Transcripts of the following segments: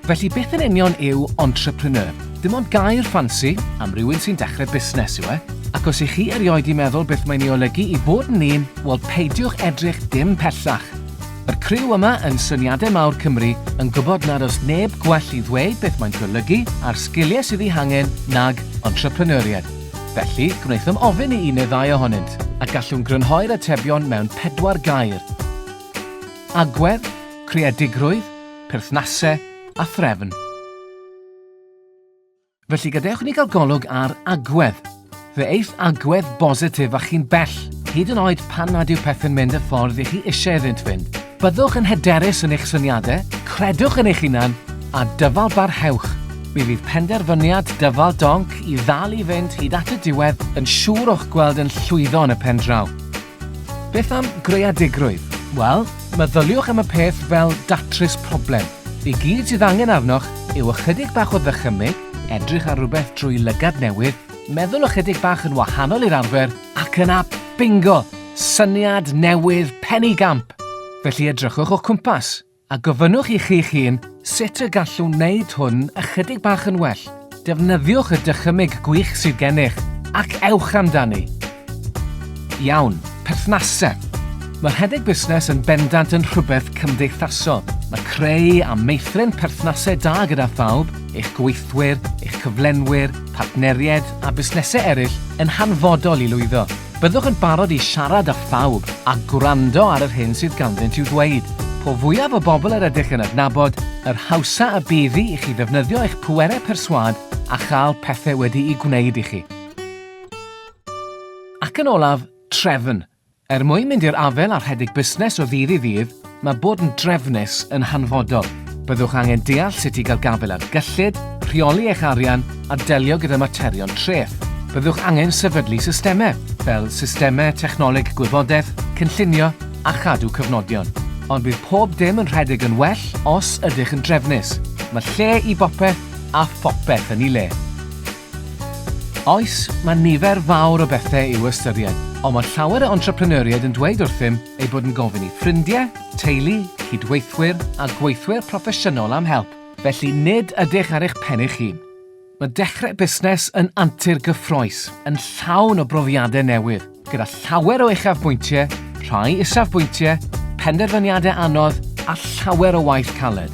Felly beth yn union yw entrepreneur? Dim ond gair ffansi am rywun sy'n dechrau busnes yw e. Ac os i chi erioed i meddwl beth mae'n ei olygu i bod yn un, wel peidiwch edrych dim pellach. Mae'r criw yma yn Syniadau Mawr Cymru yn gwybod nad oes neb gwell i ddweud beth mae'n golygu a'r sgiliau sydd eu hangen nag entrepreneuriaid. Felly, gwnaethom ofyn i un neu ddau ohonynt, a gallwn grynhoi'r atebion mewn pedwar gair. Agwedd, creadigrwydd, perthnasau a threfn. Felly gadewch i ni gael golwg ar agwedd. Fe eiff agwedd bositif â chi'n bell, hyd yn oed pan nad yw pethau'n mynd y ffordd i chi eisiau iddynt fynd. Byddwch yn hyderus yn eich syniadau, credwch yn eich hunan, a dyfalbarhewch. Mi fydd penderfyniad dyfal donc i ddal i fynd hyd at y diwedd yn siŵr o'ch gweld yn llwyddo yn y pen draw. Beth am greadigrwydd? Wel, meddyliwch am y peth fel datrys problem. I gyd sydd angen arnoch yw ychydig bach o ddychymyg, edrych ar rywbeth drwy lygad newydd, meddwl ychydig bach yn wahanol i'r arfer, Ac yna, bingo! Syniad newydd Penny Gamp! Felly edrychwch o'ch cwmpas a gofynnwch i chi'ch hun sut y gallwn wneud hwn ychydig bach yn well. Defnyddiwch y dychymyg gwych sydd gennych ac ewch amdani! Iawn, perthnasau. Mae rhedeg busnes yn bendant yn rhywbeth cymdeithasol. Mae creu a meithrin perthnasau da gyda phawb, eich gweithwyr, eich cyflenwyr, partneriaid a busnesau eraill yn hanfodol i lwyddo. Byddwch yn barod i siarad â phawb a gwrando ar yr hyn sydd ganddynt i'w ddweud. Po fwyaf o bobl yr ydych yn adnabod, yr hawsa y bydd i chi ddefnyddio eich pwerau perswâd a chael pethau wedi'u gwneud i chi. Ac yn olaf, trefn. Er mwyn mynd i'r afael â rhedeg busnes o ddydd i ddydd, mae bod yn drefnus yn hanfodol. Byddwch angen deall sut i gael gafael ar gyllid, rheoli eich arian a delio gyda materion treth. Byddwch angen sefydlu systemau, fel systemau technoleg gwybodaeth, cynllunio a chadw cyfnodion. Ond bydd pob dim yn rhedeg yn well os ydych yn drefnus. Mae lle i bopeth a phopeth yn ei le. Oes, mae nifer fawr o bethau i'w ystyried, ond mae llawer o entrepreneuriaid yn dweud wrthym eu bod yn gofyn i ffrindiau, teulu, cydweithwyr a gweithwyr proffesiynol am help, felly nid ydych ar eich pen eich hun. Mae dechrau busnes yn antur gyffrous, yn llawn o brofiadau newydd, gyda llawer o uchafbwyntiau, rhai isafbwyntiau, penderfyniadau anodd a llawer o waith caled.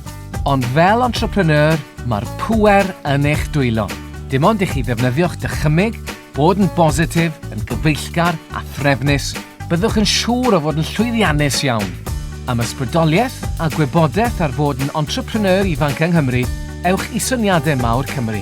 Ond fel entrepreneur, mae'r pŵer yn eich dwylo. Dim ond i chi ddefnyddio'ch dychymyg, bod yn bositif, yn gyfeillgar a threfnus, byddwch yn siŵr o fod yn llwyddiannus iawn. Am ysbrydoliaeth a gwybodaeth ar fod yn entrepreneur ifanc yng Nghymru, ewch i Syniadau Mawr Cymru.